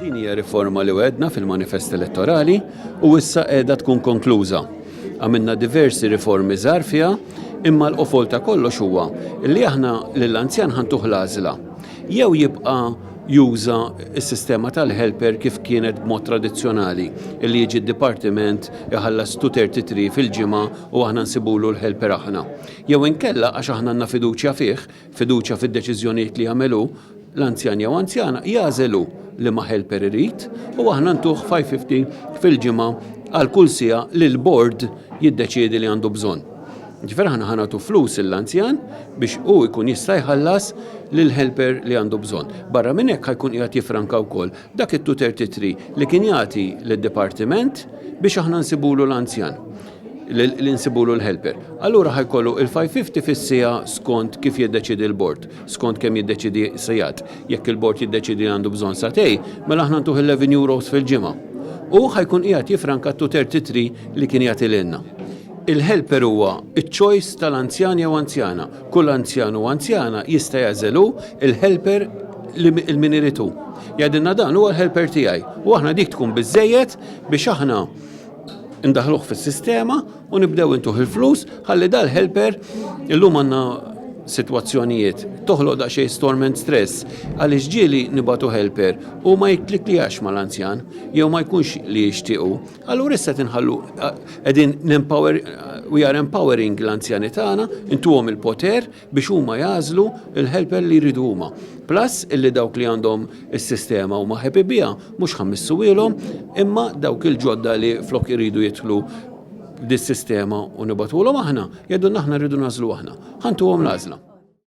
Din hija riforma li għedna fil-manifest elettorali u issa qiegħda tkun konkluża. Għamilna diversi riformi żgħar fiha, imma l-qofol ta' kollox huwa li aħna lill-anzjan ħantuh l-għażla. Jew jibqa' juża s-sistema tal-helper kif kienet b'mod tradizzjonali li jiġi d-dipartiment iħallas 233 fil-ġimgħa u aħna nsibulu l-helper aħna. Jew inkella għax aħna għandna fiduċja fih fiduċja fid-deċiżjonijiet li jagħmel hu, l-anzjan jew anzjana jagħżel hu liema helper irid u aħna ntuh 5.50 fil-ġimgħa għal kull siegħa li l-bord jiddeċiedi li għandu bżonn. Ġifier aħna ħa nagħtu flus lill-anzjan biex hu jkun jista' jħallas lill-helper li għandu bżonn. Barra minn hekk ħa jkun qiegħed jiffranka wkoll Dak it-tutor titri li kien jagħti lid-dipartiment biex aħna nsibulu l-anzjan li nsibulu l-helper. Allura ħa jkollu il-550 fis-siegħa skont kif jiddeċiedi l-bord, skont kemm jiddeċiedi sigħat. Jekk il-bord jiddeċiedi li għandu bżonn sagħtej, mela aħna ntuh 11 euros fil-ġimgħa. Hu ħa jkun qiegħed jiffranka t-tutor titri li kien jagħti lilna. Il-helper huwa ċ-choice tal-anzjan jew anzjana. Kull anzjan u anzjana jista' jagħżel hu l-helper li min irid hu. Jgħidilna dan huwa l-helper tiegħi u aħna dik tkun biżżejjed biex aħna ndaħħluh fis-sistema u nibdew intuh il-flus ħalli dal-helper illum għandna sitwazzjonijiet toħloq daqsxejn storm and stress għaliex ġieli nibagħtu helper u ma jiktliklijax mal-anzjan jew ma jkunx li jixtiequ. Allura issa tinħallu qegħdin nempower we are empowering l-anzjani tagħna, intuhom il-poter biex huma jażlu l-helper li jridu huma. Plus illi dawk li għandhom is-sistema huma happy biha mhux ħammissu ilhom imma dawk il-ġodda li flok iridu jidħlu dis-sistema u nibatulhom aħna, jgħidulna aħna rridu nażlu aħna. Ħantuhom l-għażla.